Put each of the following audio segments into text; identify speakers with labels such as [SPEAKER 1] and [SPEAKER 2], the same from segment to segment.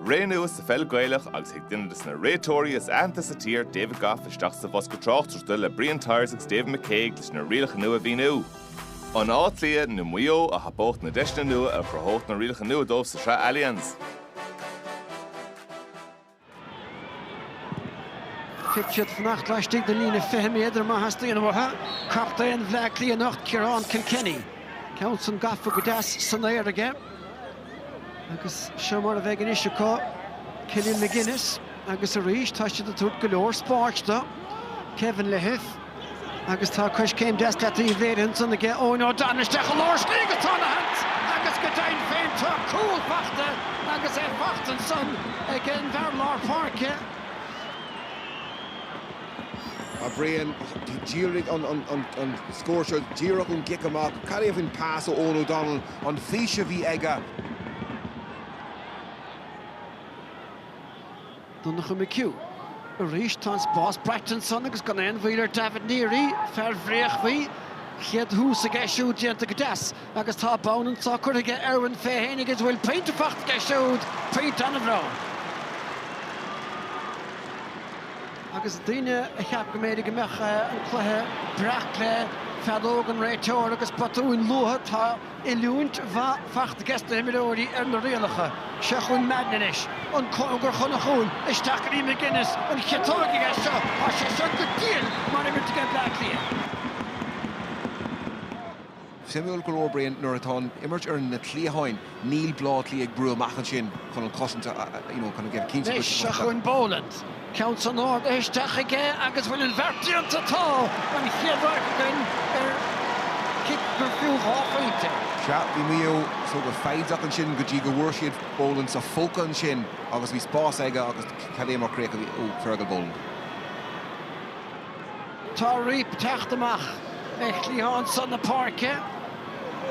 [SPEAKER 1] Ré nua sa pheil Gaelach agus chuaigh duine desna réiteoirí is aitheanta sa tír, David Gough isteach sa bhosca tráchtaireachta le Brian Tyers agus David McCague leis na rialacha nua a mhíniú. An Áth Cliath nó Maigh Eo a thapódh na deiseanna nua a chruthódh na rialacha nua dóibh sa tSraith Allianz.
[SPEAKER 2] Caithfidh siad fanacht laistigh den líne 20 méadar má theastaíonn uathu. Captaen Bhleá Cliath anocht, Ciarán Kilkenny. Ceann san gafa go deas san aer aige. Agus seo mar a bheidh anois acu, Killian McGinnis agus arís, tá siad ag tabhairt go leor spáis do Kevin Lahiff. Agus tá coiscéim deas leataoibh léirithe ansan aige Eoghan O'Donnell isteach i lár slí agus tá ana-sheans agus go deimhin féin tá cúl faighte agus é faighte
[SPEAKER 3] ansan ag an bhfear lár páirce. A Brian, d'éirigh an scór seo díreach ón gcic amach. Cad é faoin pas ó Eoghan O'Donnell, an fís a bhí aige?
[SPEAKER 2] Donnacha McHugh, Arís tá an spás braite ansan agus gan aon mhoill ar Davitt Neary, fear Bhréachmhaí. Chéad thús aige siúd déanta go deas agus tá bonn anso curtha aige Irwin fé fhéin agus bhfuil pointe faighte aige siúd, pointe an-bhreá. Agus daoine a cheap go mb'fhéidir go mbeadh an cluiche breac le feadóg an réiteora agus botúin luatha, tá, Oiliúint mhaith faighte ag na himreoirí ar na rialacha. Seo chugainn Madden anois, an cóngar chun an chúil, isteach go dtí McGinnis, an chiotóg aige seo, tá sé seo go diail mar imirt aige Bleá Cliath.
[SPEAKER 3] Suimiúil go leor, Brian, nuair atá an imirt ar na cliatháin, níl Bleá Cliath ag brú amach ansin chun an cosaint a, you know, kind of cinnte go dtí post fear. Anois, seo chugainn Boland.
[SPEAKER 2] Ceann san ard isteach aige agus bhfuil an bheart déanta. Tá an chéad áit againn ar chic gur fiú dhá phointe. Sea, bhí Maigh Eo
[SPEAKER 3] so go foighdeach ansin go dtí go bhfuair siad Boland sa phóca ansin agus bhí spás aige agus cad é mar chríoch a bhí ó Fergal Boland.
[SPEAKER 2] Tá Reape ag teacht amach ag cliathán san na páirce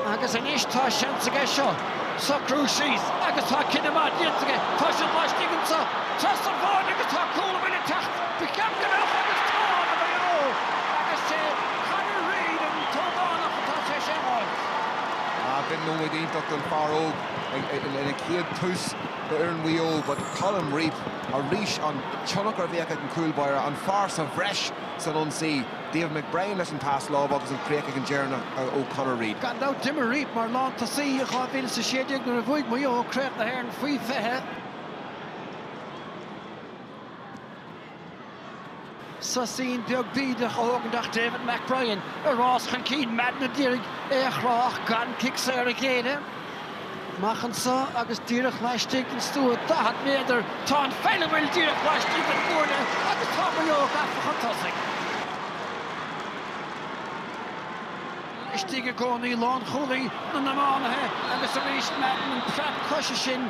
[SPEAKER 2] agus anois tá seans aige seo socrú síos agus tá cinneadh maith déanta aige. Tá siad laistigh anseo trasna an bháide agus tá cúl an bhfuil ag teacht ba cheart go mbeadh agus tá do Mhaigh Eo agus is é Conor Reid an t-ógánach atá tar éis é a fháilt. Brian,
[SPEAKER 3] nóiméad iontach don fear óg ina chéad tús d'fhoireann Mhaigh Eo but Colm Reape. arís an tionchar a bhíodh ag an gcúl báire, an fear sa bhreis san ionsaí, David McBrien leis an pas láimhe agus an chríoch ag an deireanach ó Conor Reid. Gan dabht d'imir Reape
[SPEAKER 2] mar lántosaí i 2016 nuair a bhuaigh Maigh Eo Craobh na hÉireann Faoi 20. Sosín beag bídeach á thógaint ach David McBrien i rás chun cinn Madden a d'iarraidh é a chrá ach gan cic saor a ghéilleadh. Amach anseo agus díreach laistigh den stua 40 méadar tá an pheil ag gabháil díreach laistigh den gcuaille agus tá Maigh Eo gafa chun tosaigh. Laistigh i gcónaí lánchúlaí na n-iománaithe agus arís Madden preab coise sin.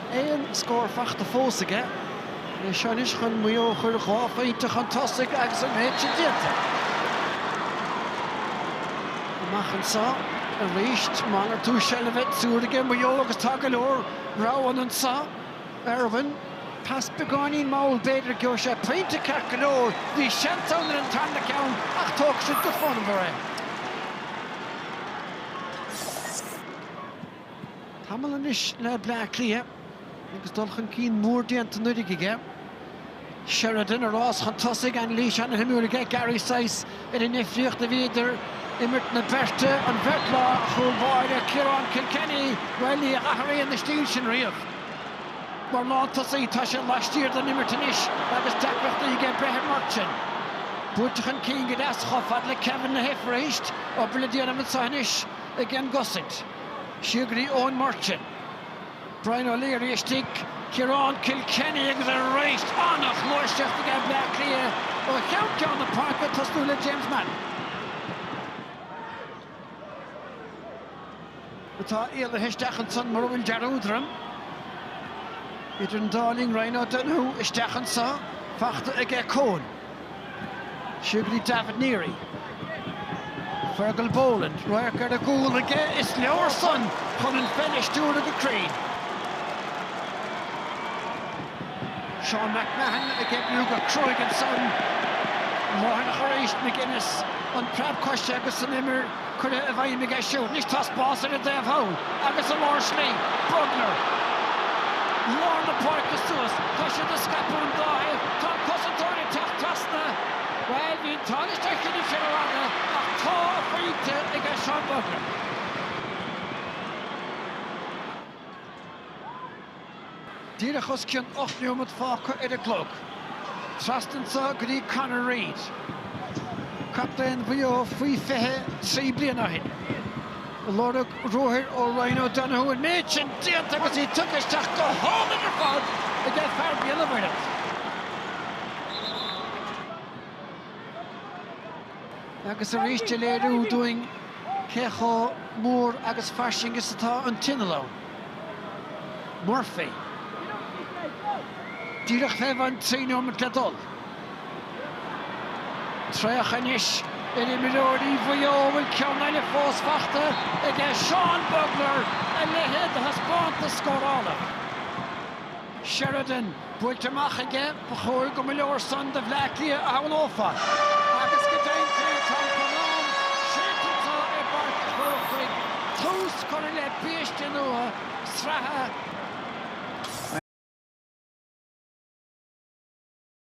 [SPEAKER 2] aon scór fachta fós aige. É seo anois chun Maigh Eo a chur dhá phointe chun tosaigh agus an méid sin déanta. Amach anseo arís, malartú seilbhe ag triúr aige Maigh Eo agus tá go leor roghanna anseo. Irwin. Pas beagáinín mall b'fhéidir. Gheobhaidh sé pointe ceart go leor. Bhí seans ann ar an tarna ceann ach tógfaidh siad go fonnmhar é. Tamall anois le Bleá Cliath agus dul chun cinn mór déanta anuraidh aige. Sheridan i rás chun tosaigh, anailís ana-shuimiúil aige Gary Sice ar an difríocht a bhí idir imirt na beirte, an bheirt, á, chúl báire Ciarán Kilkenny, bhuel, ní athraíonn an stíl sin riamh. Mar lántosaí, tá sé laistiar den imirt anois agus deacrachtaí aige breith ar Murchan. Buailte chun cinn go deas chomh fada le Kevin Lahiff arís, obair le déanamh anseo anois. aigen gcosaint, siar go dtí Eoin Murchan, Brian O'Leary istigh, Ciarán Kilkenny agus arís an-ghluaiseacht aige Bleá Cliath ó cheann ceann na páirce ag tosnú le James Madden, atá éalaithe isteach ansan mura bhfuil dearúd orm, idir an dá linn Ryan O'Donoghue isteach anso fachta aige Con. Siar go dtí Davitt Neary. Fergal Boland, radharc ar an gcúl aige, is leor san chun an pheil a stiúradh go cruinn. Seán McMahon ag oibriú go cruaidh ansan. Mathúnach arís, McGinnis, an preab coise agus an imir. Curtha i bhfeidhm aige siúd. Anois tá spás ar an dtaobh thall agus i lár slí. Bugler. Lár na páirce suas. Tá siad ag scaipeadh an dá thaobh. Tá an cosantóir ag teacht trasna. Bhuel, bhí an t-ádh leis na cinn a bhí rófhada ach tá a phointe aige Seán Bugler. Díreach os cionn ocht neomat fágtha ar an gclog. Trasna anseo go dtí Conor Reid, captaen Mhaigh Eo faoi fiche trí bliana ó shin. Lorg ruathair ó Ryan O'Donoghue an méid sin déanta agus í tugtha isteach go hálainn ar fad aige fear Bhéal an Mhuirthead. agus arís a léiriú dúinn cé chomh mór agus fairsing is atá an t-inneall ann. Murphy. Díreach faoi bhun trí nóiméad le dul. Traochadh anois ar imreoirí Mhaigh Eo bhfuil ceann eile fós faighte aige Seán Bugler a leithéid de thaispeántas scórála. Sheridan buailte amach aige, ba chóir go mba leor san do Bhleá Cliath a shamhlófá agus go deimhin féin tá an corrán séidte acu i bPáirc an Chrócaigh, tús curtha le biaiste nua sraithe.